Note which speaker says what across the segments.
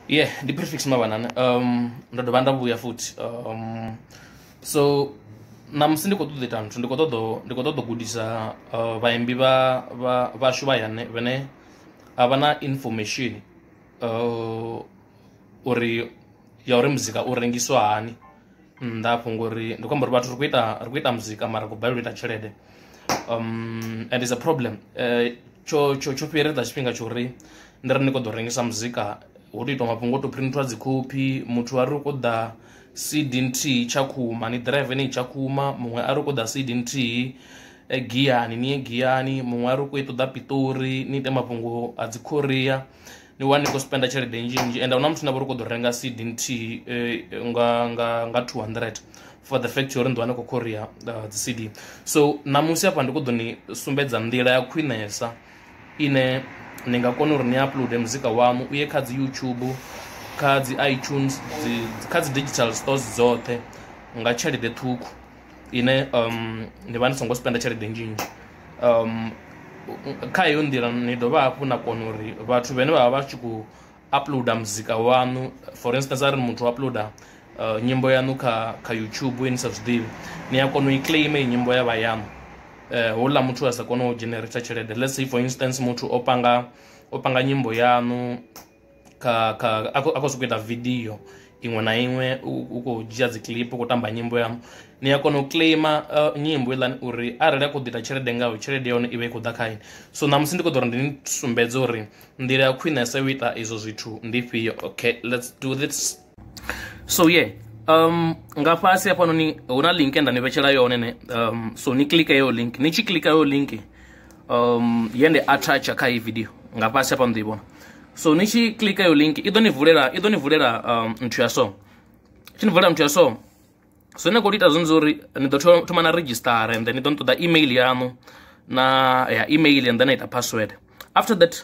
Speaker 1: yeah ndi prefix mavhanana um ndo dovha nda vhuya futhi um so namusi ndi khou ṱoḓa ita nthu ndi khou ṱoḓa ndi khou ṱoḓa gudisa uh, vhaimbi vha vhashu vha yane vhane a vha na information uh, uri ya uri muzika u rengiswa hani nnḓa afho ngori ndi khou amba uri vhathu ri khou ita ri khou ita muzika mara ri khou balelwa u ita tshelede um and is a problem uh, tsho tsho tsho fhieredza tshifhinga tsho uri ndi ri ni kho ḓo rengisa muzika ho to itwa mafhungo o to printwa dzikhophi muthu a ri u khou ḓa cd nthihi tshakhuma ni drive ni tshakhuma muṅwe a ri u khou ḓa cd nthihi eh, giyani ni ye giyani muṅwe a ri u khou i ṱoḓa piṱori ni ite mafhungo a dzikhoria ni wane ni khou spenda tshelede nnzhi nnzhi ende huna muthu na vha uri kho ḓo renga cd nthihi eh, nga nga nga 200 for the fact uri ndi wane khou khoria uh, dzi cd so ṋamusi hafha ndi kho ḓo ni sumbedza nḓila ya khwinesa ine ni nga kona uri ni uploade muzika wamu u ye kha dzi youtube kha dzi itunes kha dzi digital stores dzoṱhe nga tshelede ṱhukhu ine ndi vha ndi songo spender tshelede nnzhi nnzhi kha heyo nḓila ni dovha hafhu na kona uri vhathu vhane vha vha vha tshi khou uploader muzika waṋu for instance arali muthu o uploader nyimbo yaṋu kha kha YouTube ine ni sa zwiḓivhi ni a kona u i claim heyi nyimbo ya vha yaṋu houḽa muthu a sa kone u dzhenereta tshelede lets say for instance muthu o panga o panga nyimbo yaṋu. kha kha a khou sokou ita vidio iṅwe na iṅwe u khou dzhia dzi clip u khou tamba nyimbo ya ni a kona u claima uh, nyimbo iḽani uri arali a khou ḓi ita tshelede ngayo tshelede ya hone i vha i khou ḓa khaini so ṋamusi ndi khou ḓo uri ndi ni sumbedze uri nḓila ya khwinesa yo ita izwo zwithu ndi fhio okay let's do this so ye yeah. um nga fhasi hafhanoni hu na link nda ni vhetshela yone ne um so ni klika yeyo link ni tshi klika yeyo link um ye nde attacha kha iyi video nga fhasi hafhano ḓo i vhona so ni tshi klika yeyo link i ḓo ni vulela i ḓo ni vulela um nthu ya so tshi ni vulela nthu ya so so ni khou ita zwone zwauri ni ḓo thoma na registara and then ni ḓo ni ṱoḓa email yaṋu na ya email and then na ita password after that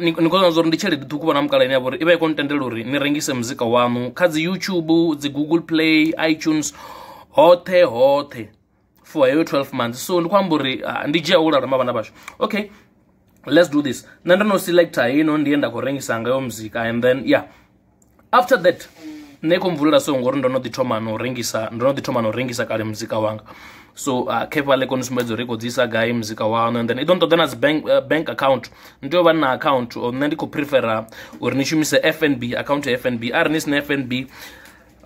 Speaker 1: ni khou zwa uri ndi tshelede ṱhukhu vhona mukala ine ya vha uri i vha i khou ntendela uri ni rengise muzika waṋu kha dzi youtube dzi google play itunes hoṱhe hoṱhe for heyo 12 months so ndi khou amba uri ah, ndi dzhia u lalama vhana vhashu okay let's do this nṋe ndo no selecta heino ndi ye nda khou rengisa ngayo muzika and then yeah after that nṋe kho mvulela so ngori ndo no ḓi thoma no rengisa ndo no ḓi thoma no rengisa kale muzika wanga so uh, kepa le koni sumbedza uri i khou dzisa gai muzika waṋu and then i ḓo nṱoḓa na dzi bank, uh, bank account ni tea u vha na account or nṋe ndi khou prefera uri ni shumise fnb account ya fnb a re ni sina fnb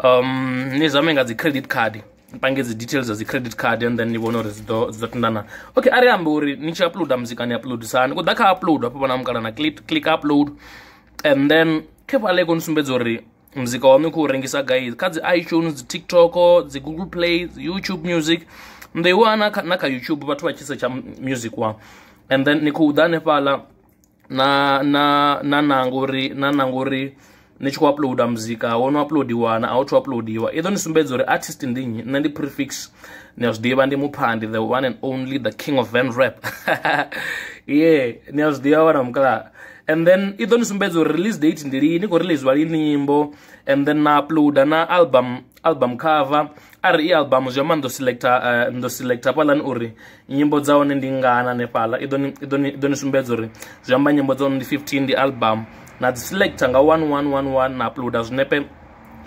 Speaker 1: um ni zame nga dzi credit card pange dzi details dza dzi credit card and then ni vhone uri dzi ḓo tendana okay a ri ambe uri ni tshi uploada muzika ni uploadisani ku ḓa kha upload hafho vha na mukala na click, click upload and then khe vhale koni sumbedza uri muzika waṋu i khou rengisa gai kha dzi itunes dzi tiktok dzi google play dzi youtube music ndi wa na kha na kha youtube vhathu vha tshi setsha music wa and then ni khou ḓa hanefhaḽa na na na nanga uri na nanga uri ni tshi khou uploada muzika wo no uploadiwa na a u thu uploadiwa i ḓo ni sumbedza uri artist ndi nnyi nṋe ndi prefix ni a zwi ḓivha ndi muphandi the one and only the king of van rap ye ni a zwi ḓivha wana mukala and then i ḓo ni sumbedza uri release date ndi lini khou releasiwa lini nyimbo and then na uploada na album album cover arali i album zwi amba ndo selecta uh, eh, ndo selecta hafhaḽani uri nyimbo dza hone ndi ngana hanefhaḽa i ḓo ni sumbedza uri zwi amba nyimbo dza hone ndi 15 ndi album na dzi selecta nga 1111 na uploada zwinepe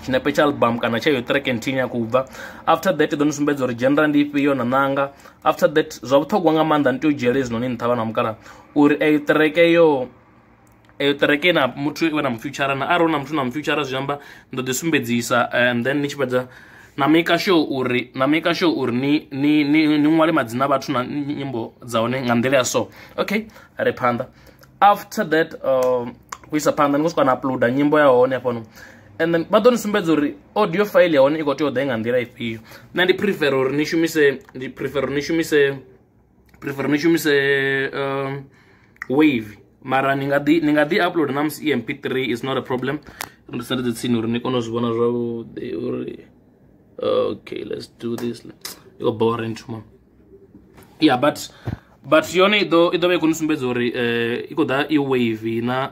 Speaker 1: tshinepe tsha album kana tsha yo track nthihi ya khou bva after that ḓo ni sumbedza uri genre ndi ifhio na ṋanga after that zwa vhuṱhogwa nga maanḓa ni tea u dzhiele hezwinoni nṱha vha na mukala uri eyo ṱereke yo eyo ṱereke na muthu iwe na mufutshara na arali na muthu na mufutshara zwi amba ndo ḓi sumbedzisa eh, and then ni tshi fhedza na maker sure uri na maker sure uri ni ni ni ni ṅwale madzina vhathu na nyimbo dza hone nga nḓila ya so okay re phanḓa after that uh, u isa phanḓa ni khou swika na uploader nyimbo ya hone hafhano and then vha ḓo ni sumbedza uri audio file ya hone i khou tea u ḓa i nga nḓila ifhio nṋe ndi prefer uri ni shumise ndi prefer uri ni shumise preference shumise uh, wave mara ni nga ḓi ni nga ḓi upload na musi emp3 is not a problem ndi sa ndi tsini uri ni kone u zwi vhona zwavhuḓi uri okay let's do this yo boring tuma yeah but but yone i ḓo i ḓo vha i khou ni sumbedza uri eh, i khou ḓa i wave na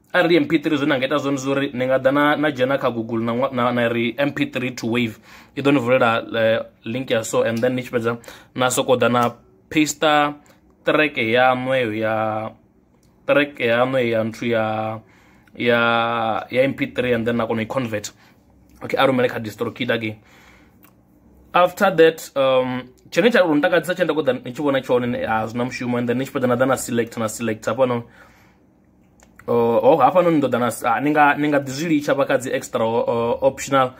Speaker 1: a ri mp3 zwine anga ita zwone zwo uri ni nga ḓa na na dzhena kha google na na, na ri mp3 to wave i ḓo ni vulela uh, link ya so and then ni tshi fhedza na soko ḓa na paster track ya nweyo ya track ya nweyo ya nthu ya ya ya mp3 and then na kona i convert okay a rumele kha distro kid again after that um tshone tsha uri ntakadzisa tshe nda kho ḓa ni tshi vhona tshone a zwi na mushumo and then ni tshi fhedza na ḓa na select na select hafha no uh, ho hafha no ni ḓoḓa na ah, ni nga ni nga ḓi zwi litsha vha kha dzi extra uh, optional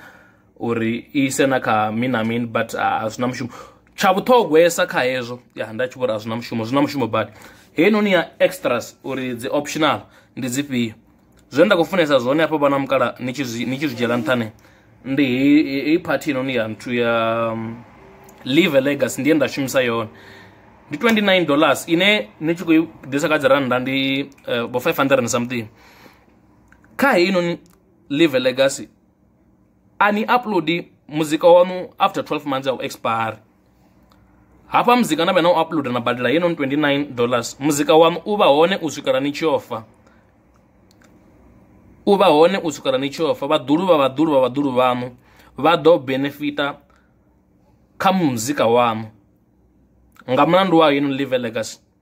Speaker 1: uri i ise na kha min na min but ah, a zwi na mushumo tsha vhuṱhogwesa kha hezwo ya nda tshi vhori a zwi na mushumo zwi na mushumo badi heinoni ya extras uri dzi optional ndi dzifhio zwe nda khou funesa zwone hafha vha na mukala ni tshi zwi dzhiela nṱhane ndi hei phathi inoni ya nthu ya um, live legacy ndiye nda shumisa yone ndi 29 dollars ine ni tshi khou ḓisa kha dzi rannda ndi eh, bo 500 and something kha hei inoni live legacy a ni upload muzika wanu after 12 months ya u expire hafha muzika na vhe na u uploader na badela ye non 29 dollars muzika wanu u vha hone u swikela ni tshi ofa u vha hone u swikela ni tshi ofa vhaḓulu vha vhaḓulu vha vhaḓulu vhanu vha ḓo benefita kha muzika wanu nga mulandu wa hino live legacy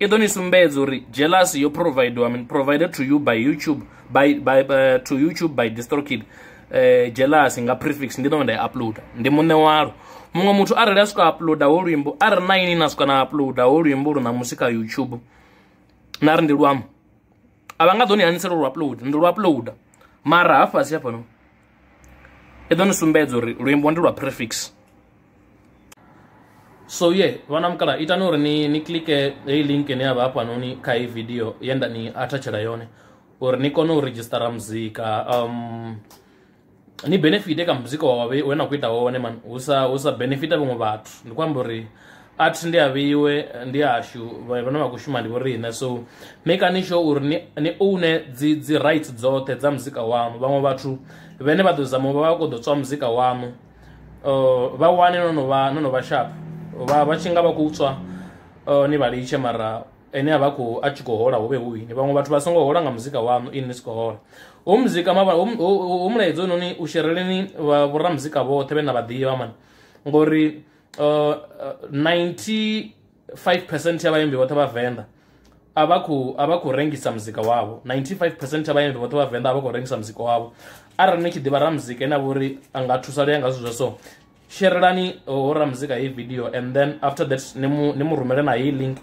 Speaker 1: i ḓo ni sumbedza uri jealous yo providiwa min provided to you by youtube by, by, uh, to youtube by distrokid uh, eh, jealous nga prefix ndi ḓo nda i uploada ndi muṋe walo muṅwe muthu arali a swika uploada ho luimbo a ri na ini na swika na uploada ho luimbo lu ṋamusi kha youtube na ri ndi luambo a vha nga ḓo ni hanisela lu upload ndi lu uploada mara hafhasi hafhano i ḓo ni sumbedza uri luimbo ndi lwa prefix so ye yeah, vhana mukala itani uri ni ni klike heyi link ine ya vha hafhanoni kha heyi video ye nda ni athatshela yone uri ni kone u redzhistara muzika um ni benefite kha muzika wa wabe we na khou ita wone man hu sa hu sa benefita vhaṅwe vhathu ndi khou amba uri a thi ndi a vheiwe ndi ashu vhane vha khou shuma ndi vho riṋe so mekani sure uri ni ni oune dzi dzi rights dzoṱhe dza muzika waṋu vhaṅwe vhathu vhane vha ḓo zama u vha vha khou ḓo tswa muzika waṋu uh, vha wane no no vha no no vha sharp vha vha tshi nga vha khou tswa uh, ni vha litshe mara ene a vha khou a tshi khou hola hu vhe hu ini vhaṅwe vhathu vha songo hola nga muzika waṋu ini ni si khou hola hu muzika mavha hu- hu hu- hu mulaedza hone u shereleni vha- vhoramuzika vhoṱhe vhe na vha ḓivha mani ngori uh, uh, 95 percent ya vhaimbi vhoṱhe vha venḓa a vha khou a vha khou rengisa muzika wavho 95 percent ya vhaimbi vhoṱhe vha venḓa a vha khou rengisa muzika wavho arali ni tshi ḓivha ra muzika ine a vha uri a nga thusa lea nga zwithu zwa so sherelani ho ra muzika heyi video and then after that ni mu ni mu rumele na heyi link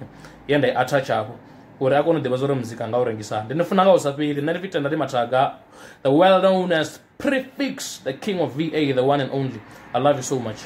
Speaker 1: ye nda i attach hafho uri a kone u ḓivha zwa uri muzika nga u rengisa ndi ni funa nga u sa fheli nṋe ndi fitenda ndi mathaga the well known as prefix the king of va the one and only i love you so much